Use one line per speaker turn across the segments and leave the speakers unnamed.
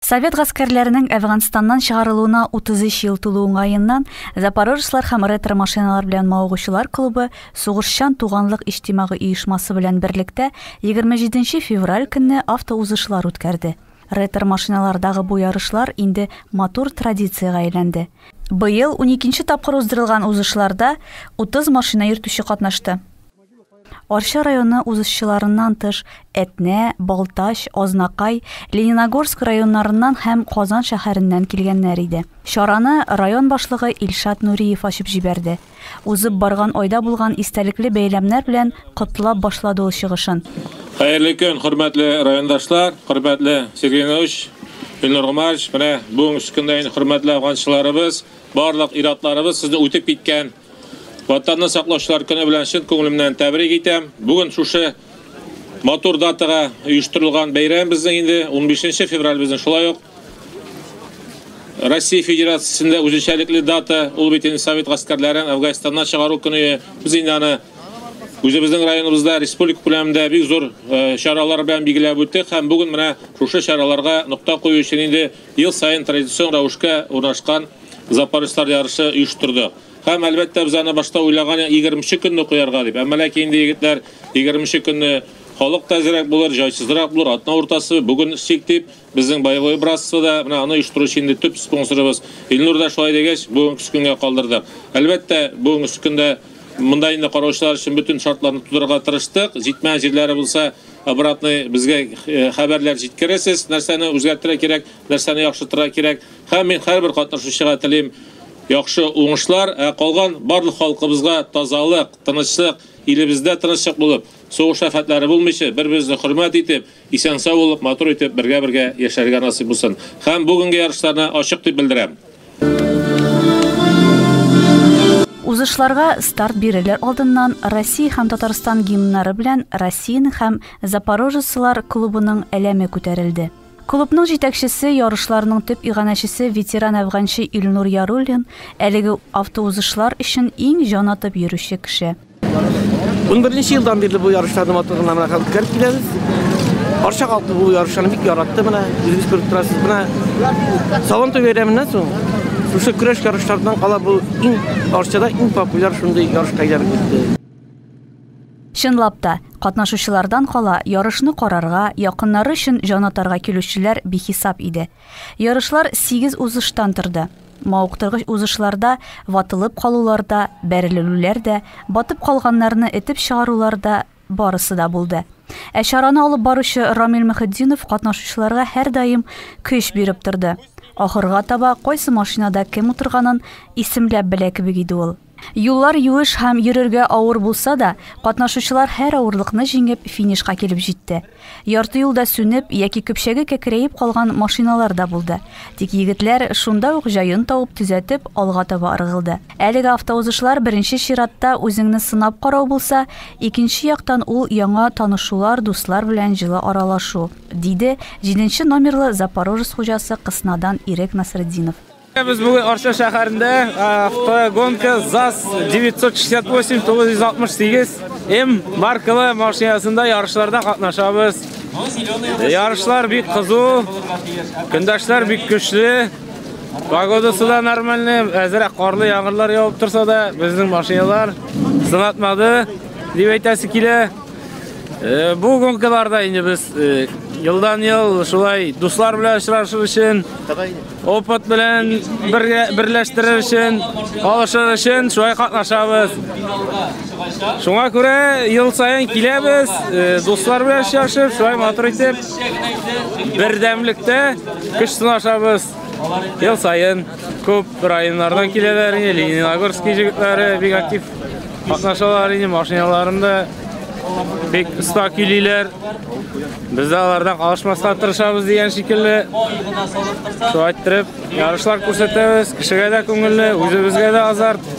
Совет гаскәрләренең Әфганстаннан чыгарылуына 33 ел тулу уңаеннан Запорожецлар һәм ретро-машиналар белән мавыгучылар клубы Сугышчан туганлык иҗтимагый оешмасы белән берлектә 27 февраль көнне автоузышлар үткәрде. Ретро-машиналардагы бу ярышлар инде матур традициягә әйләнде. Быел уникенче тапкыр уздырылган узышларда 30 машина йөртүче катнашты. Арча районы узышчыларыннан тыш, Әтнә, Балтач, Азнакай, Лениногорск районнарыннан һәм Казан шәһәреннән килгәннәр иде. Чараны район башлыгы Илшат Нуриев ачып җибәрде. Узып барган айда булган истәлекле бәйрәмнәр белән котлап башлады ул чыгышын. Хәерле көн, хөрмәтле райондашлар, хөрмәтле Сергей Ноевич, Илнур Гомарович! Менә бүгенге көндә инде хөрмәтле афганчыларыбыз, барлык ир-атларыбыз сезне үтеп киткән Ватанны саклаучылар көне белән чын күңелемнән тәбрик итәм. Бүген шушы матур датага оештырылган бәйрәм безнең инде 15 февраль безнең шулай ук Россия Федерациясендә үзенчәлекле дата, ул бит инде совет гаскәрләрен Афганистаннан чыгару көне. Без инде аны үзебезнең районыбызда республика күләмендә бик зур э, чаралар белән билгеләп үттек һәм бүген менә шушы чараларга нокта кую өчен инде Ел саен традицион рәвешкә урнашкан Запорожцлар ярышы оештырды. Һәм, әлбәттә, без аны башта уйлаган идек, егерменче көнне куярга дип. Әмма ләкин инде егетләр егерменче көнне халык та әзрәк булыр, җайсызрак булыр, атна уртасы, бүген эшлик дип, безнең Боевое братство да, менә аны оештыручы инде төп спонсорыбыз Илнур да шулай дигәч, бүгенгесе көнгә калдырдык. Әлбәттә, бүгенгесе көндә монда инде караучылар өчен бөтен шартларны тудырырга тырыштык, җитмәгән җирләре булса, Обратный безгә хәбәрләр җиткересез, нәрсәне үзгәртергә кирәк, нәрсәне яхшыртырга кирәк. Һәм мин һәрбер катнашучыга телим яхшы уңышлар, ә калган барлык халкыбызга тазалык, тынычлык, илебездә тынычлык булып, сугыш афәтләре булмыйча, бер-беребезне хөрмәт итеп, исән-сау булып, матур итеп, бергә-бергә яшәргә насыйп булсын. Һәм бүгенге ярышларны ачык дип белдерәм. Узышларга старт бирерләр алдыннан Россия һәм Татарстан гимннары белән Россиянең һәм Запорожецлар клубының әләме күтәрелде. Клубның җитәкчесе, ярышларның төп иганәчесе ветеран әфганчы Илнур Яруллин әлеге автоузышлар өчен иң җан атып йөрүче кеше. Унберенче елдан бирле бу ярышларны матурлыгына менә хәзер үткәреп киләбез. Арча халкы бу ярышларны бик яратты менә, үзегез күреп торасыз. Менә Сабантуй бәйрәменнән соң шушы көрәш ярышлардан кала бу иң Арчада иң популяр шундый ярышка әйләнеп китте. Чынлап та, катнашучылардан кала, ярышны карарга, якыннары өчен җан атарга килүчеләр бихисап иде. Ярышлар сигез узыштан торды. Мавыктыргыч узышларда, ватылып калулар да, бәрелелүләр дә, батып калганнарны этеп чыгарулар да, барысы да булды. Ә чараны алып баручы Рамил Мөхетдинов катнашучыларга һәрдаим көч биреп торды. Ахырга таба кайсы машинада кем утырганын исемләп белә кебек иде ул. Юллар юеш һәм йөрергә авыр булса да, катнашучылар һәр авырлыкны җиңеп, финишка килеп җитте. Ярты юлда сүнеп яки көпчәге кәкрәеп калган машиналар да булды. Тик егетләр шунда ук җаен тавып, төзәтеп, алга таба ыргылды. Әлеге автоузышлар беренче чиратта үзеңне сынап карау булса, икенче яктан ул яңа танышулар, дуслар белән җылы аралашу, диде җиденче номерлы Запорожец хуҗасы Кыснадан Ирек Насретдинов. Без бүген Арча шәһәрендә автогонка ЗАЗ 968-968 М маркалы машинасында ярышларда катнашабыз. Ярышлар бик кызу, көндәшләр бик көчле. Погодасы да нормальный, әзерәк карлы яңгырлар явып торса да, безнең машиналар сынатмады дип әйтәсе килә. Э, бу гонкаларда инде без э, елдан-ел шулай дуслар белән очрашыр өчен Опыт белән берләштерер өчен, алышыр өчен шулай катнашабыз. Шуңа күрә ел саен киләбез, э, дуслар белән очрашып, шулай матур итеп бердәмлектә көч сынашабыз. Ел саен күп районнардан киләләр, Лениногорск җегетләре бик актив катнашалар, машиналарында Бик оста көйлиләр. Без дә алардан калышмаска тырышабыз дигән шикелле. Шулай айттырып, ярышлар күрсәтәбез. Кешегә дә күңелле, үзебезгә дә азарт.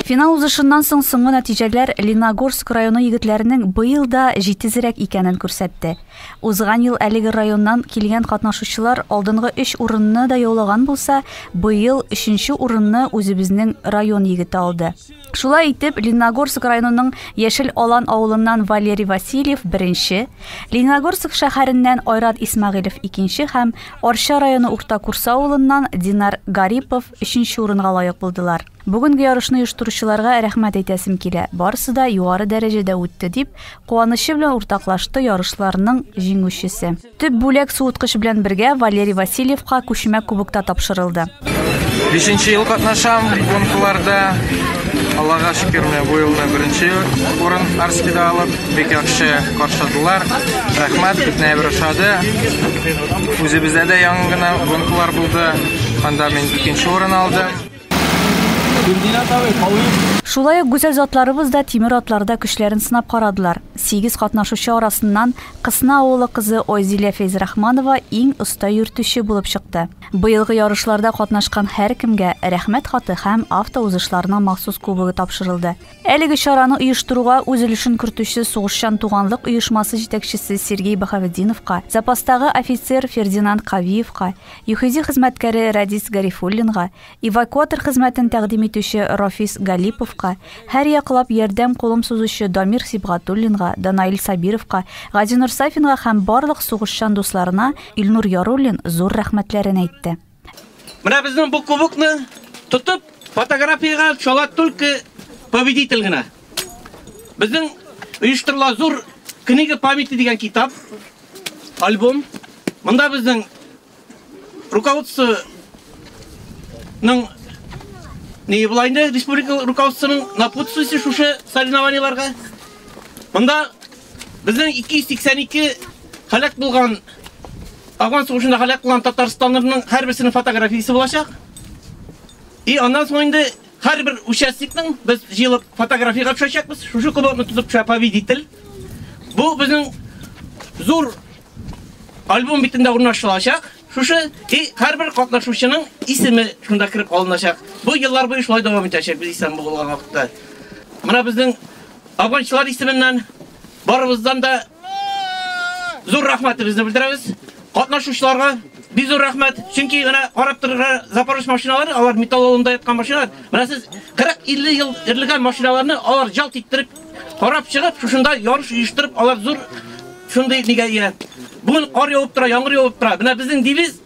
Финал узышыннан соң соңгы нәтиҗәләр Леногорск районы егетләренең быел да җитезрәк икәнен күрсәтте. Узган ел әлеге районнан килгән катнашучылар алдынгы өч урынны да яулаган булса, быел өченче урынны үзебезнең район егете алды. Шулай итеп, Лениногорск районының Яшел Алан авылыннан Валерий Васильев беренче, Лениногорск шәһәреннән Айрат Исмагыйлев икенче һәм Арча районы Урта Курса авылыннан Динар Гарипов өченче урынга лаек булдылар. Бүгенге ярышны оештыручыларга рәхмәт әйтәсем килә. Барысы да югары дәрәҗәдә үтте, дип куанычы белән уртаклашты ярышларның җиңүчесе. Төп бүләк суыткыч белән бергә Валерий Васильевка күчмә кубок та тапшырылды. Бишенче ел катнашам гонкаларда. Аллага шөкер, менә бу ел да беренче урын Арскида алып, бик яхшы каршыдылар. Рәхмәт, бөтенләй бер ошады. Үзебездә дә яңа гына гонкалар булды. Анда мин икенче урын алдым. Гөлзинат абый, калыйк. Шулай ук гүзәл затларыбыз да тимер атларда көчләрен сынап карадылар. Сигез катнашучы арасыннан Кысна авылы кызы Айзилә Фәйзрахманова иң оста йөртүче булып чыкты. Быелгы ярышларда катнашкан һәркемгә Рәхмәт хаты һәм автоузышларның махсус кубогы тапшырылды. Әлеге чараны оештыруга үз өлешен кертүче Сугышчан туганлык оешмасы җитәкчесе Сергей Баһаветдиновка, запастагы офицер Фердинанд Кавиевка, ЮХИДИ хезмәткәре Рәдис Гарифуллинга, эвакуатор хезмәтен тәкъдим итүче Рафис Галиповка, һәрьяклап ярдәм кулым сузучы Дамир Сибгатуллинга, Данаил Сабировка, Газинур Сафинга һәм барлык сугышчан дусларына Илнур Яруллин зур рәхмәтләрен әйтте. Менә безнең бу кубокны тотып, фотографиягә шала только победитель генә. Безнең оештырыла зур книга памяти дигән китап, альбом. Монда безнең руководствоның не була инде республика руководствоның напутствиесе шушы соревнованиеларга. Монда Безнең 282 халәк булган Афган сугышында халәк булган татарстанлыларның һәрберсенең фотографиясе булачак. И аннан соң инде һәрбер участникның без җыелып фотографияга төшәчәкбез. Шушы кубокны тотып төшә победитель. Бу безнең зур альбом битендә урнаштырылачак. Шушы и һәрбер катнашучының исеме шунда кереп алыначак. Бу еллар буе шулай дәвам итәчәк без исән булган вакытта. Менә безнең Абунчылар исеменнән барыбыздан да зур рәхмәтебезне белдерәбез. Катнашучыларга бик зур рәхмәт. Чөнки менә карап торырга Запорож машиналары, алар металлоломда яткан машиналар. Менә сез 40-50 ел эрлегән машиналарны алар жалт иттереп карап чыгып, шушында ярыш оештырып, алар зур шундый нигә ия. Бүген кар явып тора, яңгыр явып тора. Менә безнең девиз